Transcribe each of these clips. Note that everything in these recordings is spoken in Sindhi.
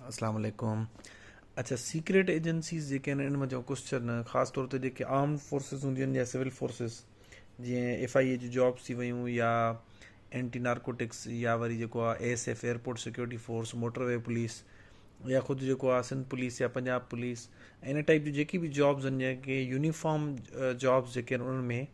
السلام عليڪم اچا سيڪريٽ ايجنسيز جيڪي آهن ان منجهان ڪجهه چرن خاص طور تي جيڪي آرم فورسز هونديون آهن يا سول فورسز جيئن ايف آئي اي جي جابس ٿي ويون يا اينٽي نارڪوٽڪس يا وري جيڪو آه A S F airport security force motorway police يا خود جيڪو آه سنڌ پوليس يا پنجاب پوليس ان ٽائپ جي جيڪي به جابس آهن جيڪي يونيفارم جابس جيڪي آهن انهن ۾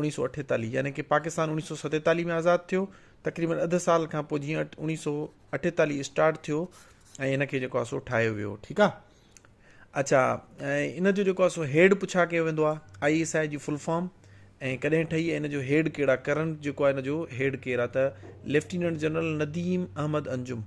انيس سو اٺيتاليهه يعني ڪي پاڪستان انيس سو ستيتاليهه ۾ آزاد ٿيو تقريبن اڌ سال کان پوء جيئن انيس سو اٺيتاليهه اسٽارٽ ٿيو ۽ ان کي جيڪو سو ٺاهيو ويو ٺيڪ آ اچھا ان جو جيڪو سو هيڊ پڇا ڪيو ويندو آ آئي ايس آئي جي فل فارم ۽ ڪڏهن ٺهي ان جو هيڊ ڪهڙا ڪرنٽ جيڪو آ ان جو هيڊ ڪير آ ته ليفٽيننٽ جنرل نديم احمد انجم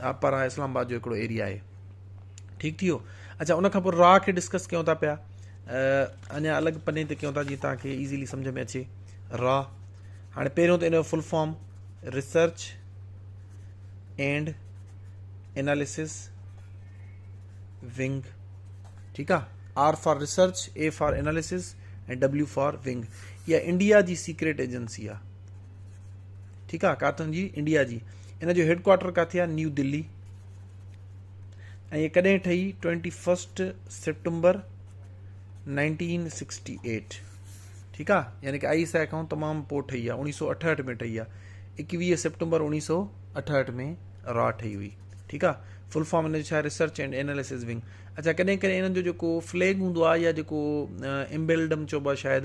آه پراه اسلام آباد جو هڪڙو ايريا آهي ٺيڪ ٿيو اچھا ان کان پوء راء کي ڊسڪس ڪيون ٿا پيا اڃا الڳ پني تي ڪيون ٿا جيئن تان کي ايزيلي سمجھ ۾ اچي را هاڻي پهريون ته ان جو full form research and analysis wing ٺيڪ آ R for research A for analysis ۽ W for wing اها انڊيا جي سيڪريٽ ايجنسي آ ٺيڪ آ ڪاٿن جي انڊيا جي ان جو هيڊ ڪوارٽر ڪاٿي آ نيو دلي ۽ ڪڏهن ٺهي 21 سپٽمبر 1968 ٺيڪ آ يعني ڪه آئي اس آئي کان تمام پو ٺهي آ 1968 ۾ ٺهي آ 21 سپٽمبر 1968 ۾ را ٺهي هئي ٺيڪ آ فل فارم ان جو ڇا ريسرچ اينڊ ايناليسز ونگ اچھا ڪڏهن ڪڏهن انهن جو جيڪو فليگ هوندو آ يا جيڪو امبيلڊم چوبو آ شايد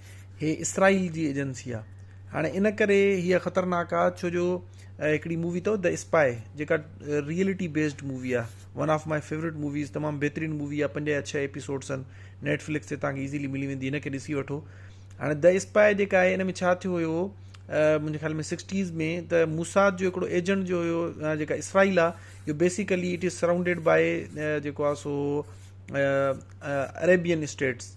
هي اسرائيل جي ايجنسي آ هاڻي ان ڪري هي خطرناڪ آ ڇو جو هڪڙي مووي اٿو The Spy جيڪا ريئلٽي بيسڊ مووي آ one of my favourite movies تمام بهترين مووي آ پنج يا ڇهه ايپيسوڊس آهن نيٽ فلڪس تي توهان کي ايزيلي ملي ويندي هن کي ڏسي وٺو هاڻي The Spy جيڪا آهي ان ۾ ڇا ٿيو هيو منهنجي خيال ۾ سڪسٽيز ۾ ته موساد جو هڪڙو ايجنٽ جو هيو جيڪا اسرائيل آ جو basically it is surrounded by جيڪو آ سو عريبين اسٽيٽس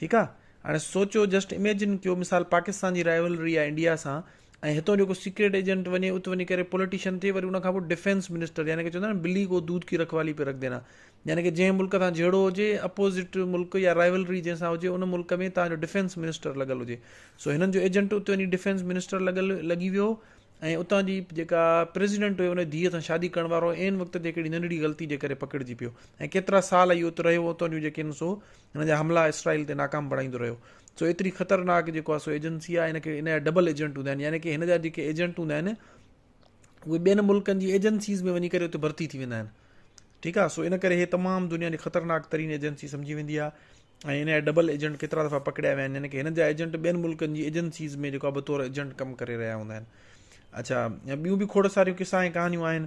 ٺيڪ آ هاڻي سوچو جسٽ اميجن ڪيو مثال پاڪستان جي رائيولري آ انڊيا سان ۽ هتون جو ڪو سيڪريٽ ايجنٽ وڃي ات وڃي ڪري پوليٽيشن ٿئي وري ان کان پوء ڊفينس منسٽر يعني ڪي چوندا آهن بلي ڪو دود ڪي رکوالي پي رک دينا يعني ڪي جنهن ملڪ سان جهيڙو هجي اپوزٽ ملڪ يا رائيولري جنهن سان هجي ان ملڪ ۾ تان جو ڊفينس منسٽر لڳل هجي سو هنن جو ايجنٽ ات وڃي ڊفينس منسٽر لڳل لڳي ويو ۽ اتان جي جيڪا پريزيڊنٽ هيو ان ڌيء سان شادي ڪرڻ وارو عين وقت تي ڪهڙي ننڍڙي غلطي جي ڪري پڪڙجي پيو ۽ ڪيترا سال اهو ات رهيو اتان جون جيڪي سو هن جا حملا اسرائيل تي ناڪام بڻائيندو رهيو سو ايتري خطرناڪ جيڪو آهي سو ايجنسي آهي هن کي ان جا ڊبل ايجنٽ هوندا آهن يعني ڪي هن جا جيڪي ايجنٽ هوندا آهن اهي ٻين ملڪن جي ايجنسيز ۾ وڃي ڪري اتي ڀرتي ٿي ويندا آهن ٺيڪ آهي سو ان ڪري هي تمام دنيا جي خطرناڪ ترين ايجنسي سمجهي ويندي آهي ۽ هن جا ڊبل ايجنٽ ڪيترا دفعا پڪڙيا ويا آهن يعني ڪي هن جا ايجنٽ ٻين ملڪن جي ايجنسيز ۾ جيڪو بطور ايجنٽ ڪم ڪري رهيا هوندا آهن اچھا ٻيون به کوڙ ساريون قصا ۽ ڪهانيون آهن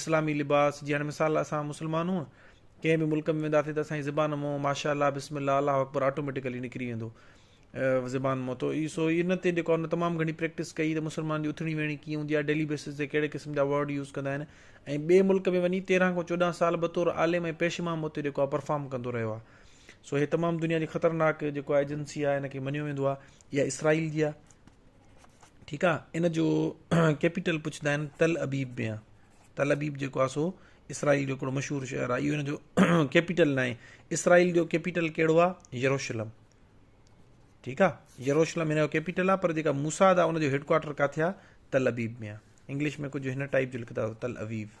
اسلامي لباس جي هاڻي مثال اسان مسلمان هونء ڪنهن به ملڪ ۾ وينداسين ته اسان جي زبان مون ماشاء الله بسم الله الله اڪبر آٽوميٽڪلي نڪري ويندو زبان مون تو اي سو ان تي جيڪو ان تمام گهڻي پريڪٽس ڪئي ته مسلمان جي اٿڻي ويهڻي ڪيئن هوندي آهي ڊيلي بيسس تي ڪهڙي قسم جا ورڊ يوز ڪندا آهن ۽ ٻئي ملڪ ۾ وڃي تيرهن کان چوڏهن سال بطور عالم ۽ پيش امام اتي جيڪو آهي پرفارم ڪندو رهيو آهي سو هي تمام دنيا جي خطرناڪ جيڪو آهي ايجنسي آهي ان کي مڃيو ويندو آهي اها اسرائيل جي آهي ٺيڪ آ ان جو ڪيپيٽل پڇندا آهن تل ابيب ۾ آ تل ابيب جيڪو آ سو اسرائيل جو هڪڙو مشهور شهر آ اهو ان جو ڪيپيٽل ناهي اسرائيل جو ڪيپيٽل ڪهڙو آ يروشلم ٺيڪ آ يروشلم ان جو ڪيپيٽل آ پر جيڪا موساد آ ان جو هيڊ ڪوارٽر ڪاٿي آ تل ابيب ۾ آ انگلش ۾ ڪجهه هن ٽائپ جو لکندا تل ابيب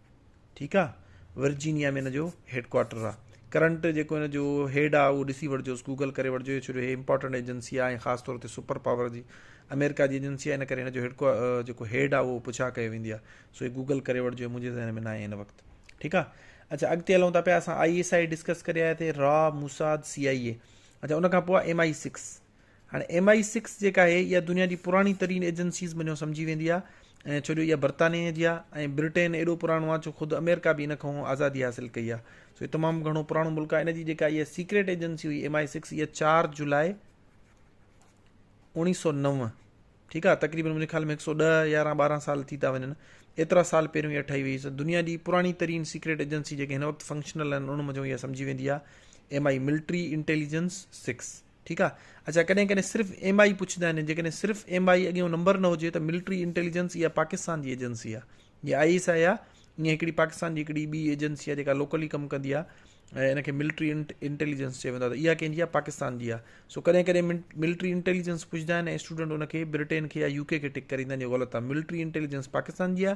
ٺيڪ آ ورجينيا ۾ ان جو هيڊ ڪوارٽر آ ڪرنٽ جيڪو ان جو هيڊ آ اهو ڏسي وٺجوس گوگل ڪري وٺجو ڇو جو هي امپورٽنٽ ايجنسي آ ۽ خاص طور تي سپر پاور جي آمريڪا جي ايجنسي آ ان ڪري هن جو هيڊ جيڪو هيڊ آ اهو پڇا ڪيو ويندي آ سو هي گوگل ڪري وٺجو منهنجي ذهن ۾ ناهي هن وقت ٺيڪ آ اچھا اڳتي هلون ٿا پيا اسان آئي ايس آئي ڊسڪس ڪري آيا ٿي را موساد سي آئي اي اچھا ان کان پوء ايم آئي سڪس هاڻي ايم آء سڪس جيڪا آهي اها دنيا جي پراڻي ترين ايجنسيز منجهو سمجهي ويندي آهي ۽ ڇو جو اها برطانيه جي آهي ۽ برٽين ايڏو پراڻو آهي ڇو خود اميرڪا به ان کانهون آزادي حاصل ڪئي آهي سو هي تمام گهڻو پراڻو ملڪ آهي ان جي جيڪا اها سيڪريٽ ايجنسي هئي ايم آء سڪس اها چار جولاء اوڻيهه سو نو ٺيڪ آ تقريبا مجھے خيال ۾ 110 11 12 سال ٿي تا وڃن ايترا سال پهريون اها ٺهي وئي سو دنيا جي پراڻي ترين سيڪريٽ ايجنسي جيڪي هن وقت فنڪشنل آهن ان مجھو اها سمجھي ويندي آ ايم آء ملٽري انٽيليجنس 6 ٺيڪ آ اچا ڪڏهن ڪڏهن صرف ايم آئي پڇندا آهن جيڪڏهن صرف ايم آئي اڳيون نمبر نه هجي ته ملٽري انٽيليجنس اها پاڪستان جي ايجنسي آ جي آئي ايس آئي آ ائين هڪڙي پاڪستان جي هڪڙي ٻي ايجنسي آ جيڪا لوڪلي ڪم ڪندي آ ۽ ان کي ملٽري انٽيليجنس چئي ويندو آ اها ڪنهن جي آ پاڪستان جي آ سو ڪڏهن ڪڏهن ملٽري انٽيليجنس پڇندا آهن ۽ اسٽوڊنٽ ان کي برٽين کي يا يو ڪي کي ٽڪ ڪريندا آهن جو غلط آ ملٽري انٽيليجنس پاڪستان جي آ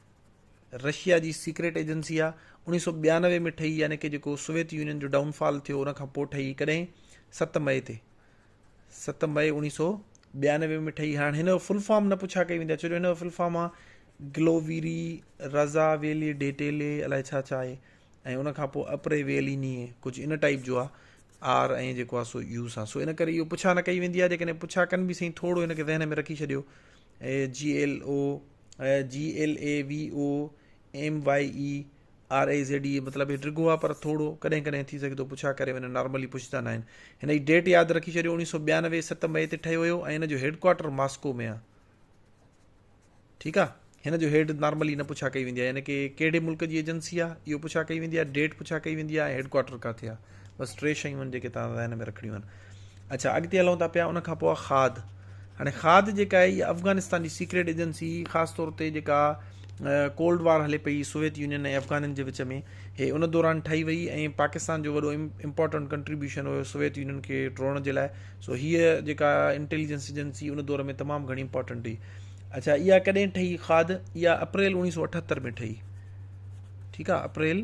رشيا جي سيڪريٽ ايجنسي آهي اوڻيهه سؤ ٻيانوي ۾ ٺهي يعني ڪي جيڪو سوويت يونين جو ڊائون فال ٿيو ان کان پوء ٺهي ڪڏهن ست مئي تي ست مئي اوڻيهه سؤ ٻيانوي ۾ ٺهي هاڻ هن جو فل فارم نه پڇا ڪئي ويندي چوجو هن جو فل فارم آهي گلوويري رضا ويلي ڊيٽيلي الائي ڇا ڇا آهي ۽ ان کان پوء اپري ويلي ني ڪجهه ان ٽائپ جو آهي آر ۽ جيڪو آهي سو يوس آهي سو ان ڪري اهو پڇا نه ڪئي ويندي آهي جيڪڏهن پڇا ڪن به سائين ٿورو هن کي ذهن ۾ رکي ڇڏيو G L O G L A V O M Y E R E Z A مطلب هي ڊگهو آهي پر ٿورو ڪڏهن ڪڏهن ٿي سگهي ٿو پڇا ڪري وڃن نارملي پڇندا ناهن هن جي ڊيٽ ياد رکي ڇڏيو اوڻيهه سو ٻيانوي ست مئي تي ٺهيو هيو ۽ هن جو هيڊ ڪوارٽر ماسڪو ۾ آهي ٺيڪ آهي هن جو هيڊ نارملي نه پڇا ڪئي ويندي آهي يعني ڪي ڪهڙي ملڪ جي ايجنسي آهي اهو پڇا ڪئي ويندي آهي ڊيٽ پڇا ڪئي ويندي آهي هيڊ ڪوارٽر ڪاٿي آهي بس ٽي شيون آهن جيڪي توهان ذهن ۾ رکڻيون آهن اڇا اڳتي هلون ٿا پيا ان کان پوء کاڌ هاڻي کاڌ جيڪا آهي اها افغانستان جي سيڪريٽ ايجنسي خاص طور تي جيڪا ڪولڊ وار هلي پئي سوويت يونين ۽ افغانن جي وچ ۾ هي ان دوران ٺهي وئي ۽ پاڪستان جو وڏو امپورٽنٹ ڪنٽريبيوشن هيو سوويت يونين کي ٽوڙڻ جي لاء سو هيء جيڪا انٽيليجنس ايجنسي ان دور ۾ تمام گهڻي امپورٽنٽ هئي اچھا اها ڪڏهن ٺهي کاڌ اها اپريل اوڻيهه سو اٺهتر ۾ ٺهي ٺيڪ آ اپريل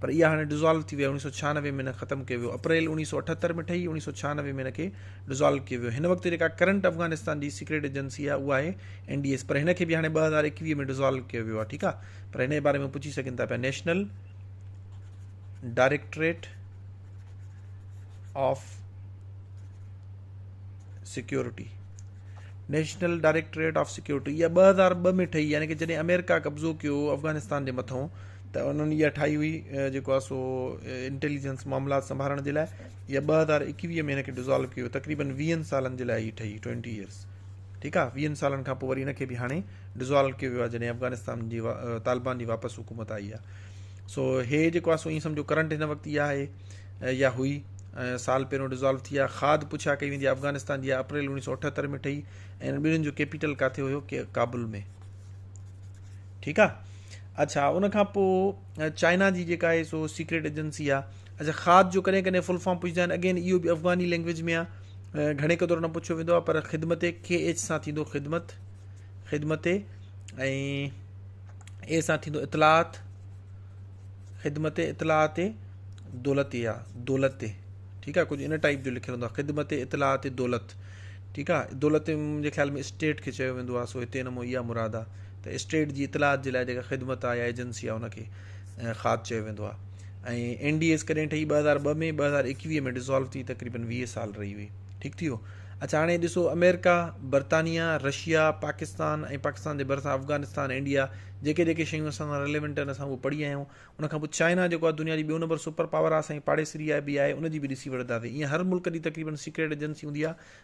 پر اها هاڻي ڊزالو ٿي وئي آهي، اڻيهه سؤ ڇهانوي ۾ هن ختم ڪيو ويو، اپريل اڻيهه سؤ اٺهتر ۾ ٺهي، اڻيهه سؤ ڇهانوي ۾ هن کي ڊزالو ڪيو ويو، هن وقت جيڪا ڪرنٽ افغانستان جي سيڪريٽ ايجنسي آهي اها آهي اين ڊي ايس، پر هن کي به هاڻي ٻه هزار ايڪويهه ۾ ڊزالو ڪيو ويو آهي ٺيڪ آهي، پر هن جي باري ۾ پڇي سگهن ٿا پيا national directorate of security national directorate of security اها ٻه هزار ٻه ۾ ٺهي يعني ڪه جڏهن آمريڪا قبضو ڪيو افغانستان جي مٿو ته انهن اها ٺاهي هئي جيڪو آهي سو انٽيليجنس معاملات سنڀالڻ جي لاء يا ٻه هزار ايڪويهه ۾ هن کي ڊزالو ڪيو تقريبن ويهن سالن جي لاء هي ٺهي ٽوينٽي ايئرس ٺيڪ آهي ويهن سالن کان پوء وري هن کي به هاڻي ڊزالو ڪيو ويو آهي جڏهن افغانستان جي طالبان جي واپس حڪومت آئي آهي سو هي جيڪو آهي سو ائين سمجھو ڪرنٽ هن وقت اها آهي يا هئي سال پهريون ڊزالو ٿي آهي کاد پڇا ڪئي ويندي آهي افغانستان جي اپريل اڻيهه سو اٺهتر ۾ ٺهي ۽ ٻنهي جو ڪيپيٽل ڪاٿي هيو ڪابل ۾ ٺيڪ آ اڇا ان کان پو چائنا جي جيڪا آهي سو سيڪريٽ ايجنسي آ اڇا خاد جو ڪڏهن ڪڏهن فل فارم پڇندا آهن اگين اهو به افغاني لينگويج ۾ آ گهڻي قدر نه پڇيو ويندو آ پر خدمت کي ايچ سان ٿيندو خدمت خدمت اي اي سان ٿيندو اطلاعات خدمت اطلاعات دولت يا دولت ٺيڪ آ ڪجهه ان ٽائپ جو لکيو ويندو آ خدمت اطلاعات دولت ٺيڪ آ دولت منهنجي خيال ۾ اسٽيٽ کي چيو ويندو آ سو هتي نمو يا مراد آ ته اسٽيٽ جي اطلاعات جي لاء جيڪا خدمت آهي يا ايجنسي آهي ان کي خاد چيو ويندو آهي ۽ اين ڊي ايس ڪڏهن ٺهي ٻه هزار ٻه ۾ ٻه هزار ايڪويهه ۾ ڊسالو ٿي تقريبن ويهه سال رهي هئي ٺيڪ ٿي ويو اچھا هاڻي ڏسو امريڪا برطانيا رشيا پاڪستان ۽ پاڪستان جي ڀرسان افغانستان انڊيا جيڪي جيڪي شيون اسان سان ريليونٽ آهن اسان اهو پڙهي آيا آهيون ان کان پوء چائنا جيڪو آهي دنيا جي ٻيو نمبر سپر پاور آهي سائين پاڙيسري آهي بي آهي ان جي به ڏسي وٺنداسين ائين هر ملڪ جي تقريبن سيڪريٽ ايجنسي هوندي آهي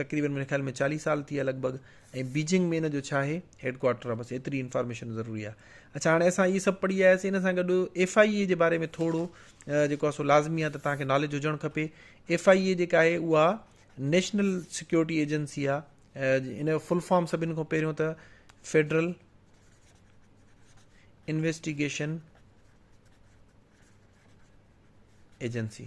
تقريبن منهنجي خيال ۾ چاليهه سال ٿي ويا لڳ ڀڳ ۽ بيجنگ ۾ ان جو ڇا آهي هيڊ ڪوارٽر آهي بس ايتري انفارميشن ضروري آهي اچھا هاڻي اسان هي سڀ پڙهي آياسي ان سان گڏ ايف آئي اي جي باري ۾ ٿورو جيڪو سو لازمي آهي ته تان کي ناليج هجڻ کپي ايف آئي اي جيڪا آهي اها نيشنل سيڪيورٽي ايجنسي آهي ان جو فل فارم سڀن کان پهريون ته فيڊرل انويسٽيگيشن ايجنسي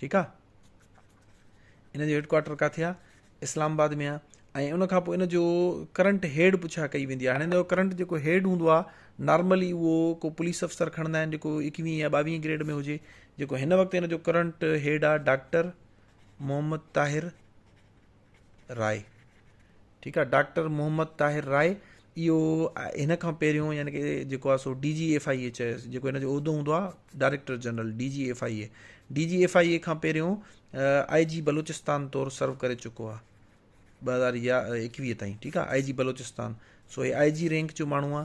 ٺيڪ آ ان جو هيڊ ڪوارٽر ڪاٿي آ اسلام آباد ۾ آ ۽ ان کان پوء ان جو ڪرنٽ هيڊ پڇا ڪئي ويندي آ هاڻي ان جو ڪرنٽ جيڪو هيڊ هوندو آ نارملي اهو ڪو پوليس افسر کڻندا آهن جيڪو اڪويهه يا ٻاويهه گريڊ ۾ هجي جيڪو هن وقت ان جو ڪرنٽ هيڊ آ ڊاڪٽر محمد طاهر راء ٺيڪ آ ڊاڪٽر محمد طاهر راء اهو هن کان پهريون يعني ڪي جيڪو آ سو D G F I A چيس جيڪو هن جو عهدو هوندو آ director general D G F I A D G F I A کان پهريون آئي جي بلوچستان طور سرو ڪري چڪو آ ٻه هزار يا ايڪويهه تائين ٺيڪ آ آئي جي بلوچستان سو هي آئي جي رينڪ جو ماڻهو آ